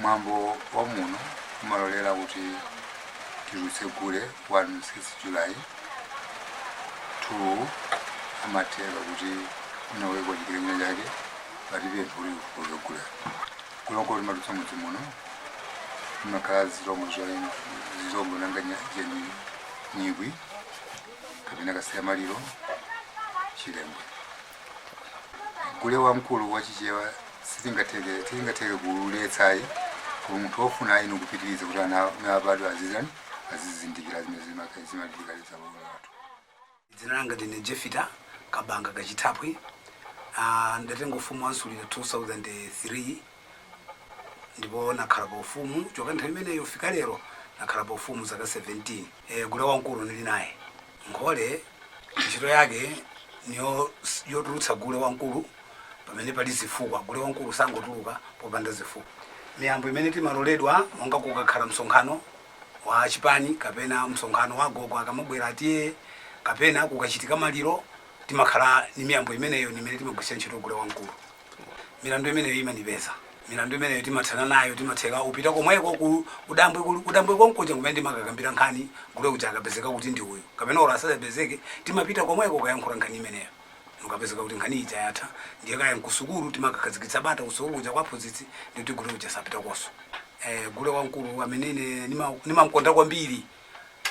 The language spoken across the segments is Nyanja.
Mwambo wa muno umalolera kuti titulutse gule 1 6 July 2 amathero kuti unaweko chikirinyo chake palibe mvuli kuzogula kuloko timatulutsa mudzi muno imakhala zilombo zoyenda zilombo nanga nya- jeni nyikwi kapena kasiyamaliro chilembwe gule wamkulu wa chichewa sitingatheke tingatheke kuuletsa ayi koma munthu ofuna ayini kupitiriza kuti ana amene abadwa azizani azizindikira zimene zimaka- zimachitika m'dziko lino lathu dzina langa ndine jefita kabanga kachithapwi Ah, ndatenga ufumu wa msulira 2003 ndipo nakhala pa ufumu kuchoka nthawi imeneyo kufika lero, nakhala pa ufumu zaka 17. E, gule wamkulu nili naye. Nkhole ntchito yake niyo yotulutsa gule wamkulu pamene pali zifukwa. Gule wamkulu sangotuluka popanda zifukwa. Miyambo imene timaloledwa monga kukakhala msonkhano wa chipani kapena msonkhano wa agogo akamabwera a TA kapena kukachitika maliro timakhala ni miyambo imeneyo ni imene timagwiritsa ntchito gule wamkulu. milandu imeneyo imandipeza milandu imeneyo timathana nayo timatheka upita komweko ku- kudambwe kulu- kudambwe konkuja kumene timakakambira nkhani gule uja akapezeka kuti ndi uyu kapena olo asazapezeke timapita komweko kayankhula nkhani imeneyo ukapezeka kuti nkhani ija yatha ndiye kaya nkusukulu timakakhazikitsa bata kusukulu kuja kwa aphunzitsi ndikuti gule uja sapitakoso eh, gule wamkulu amene ine nima- nimamkonda kwambiri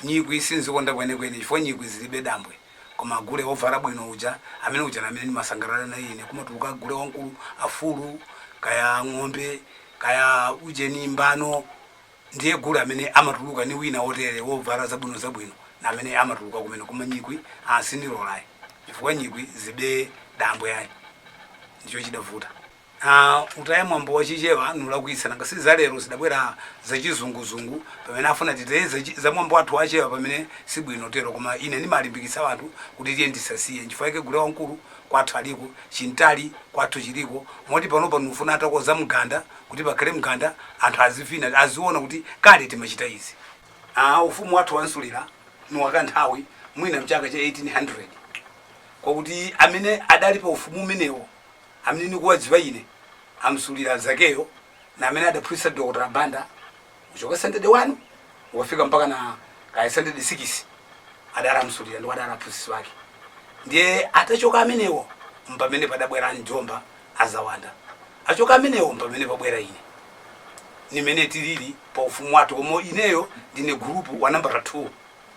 nyikwi sinzikonda kwenekwene chifukwa nyikwi zibe dambwe Koma gule ovala bwino uja, amene uja namene nimasangalala naye ine. Kumatuluka gule wamkulu, afulu, kaya ng'ombe, kaya ujeni mbano. Ndiye gule amene amatuluka ni wina otere, ovala zabwino zabwino, namene amatuluka kumene. Koma nyikwi, ah, sindilola ayi. Chifukwa nyikwi zibe dambwe ayi. Ndicho chidavuta. Aaa utaya mwambo wa chichewa nulakwitsa nanga si za lero zidabwera za chizunguzungu pamene afuna titaye za chi za mwambo wathu wa chewa pamene si bwino tero koma ine nimalimbikitsa anthu kuti tiyeni tisasiye nchifukwa chake gule wamkulu kwathu aliko chintali kwathu chiliko moti panopa nufuna atakoza mganda kuti pakhale mganda anthu azivina aziona kuti kale timachita izi. Aaa ufumu wathu wa msulira ni wakanthawi mwina mchaka cha 1800 kwakuti amene adali pa ufumu umenewo Amene nikuwadziwa ine, amsulira Zakeyo na amene adaphunzitsa Dr Banda kuchoka standard 1 ukafika mpaka na kaya standard 6 adali amsulira ndipo adali aphunzitsi wake ndiye atachoka amenewo mpamene padabwera amjomba azawanda achoka amenewo mpamene pabwera ine nimene tilili pa ufumu wathu koma ineyo ndine gulupu wa nambala 2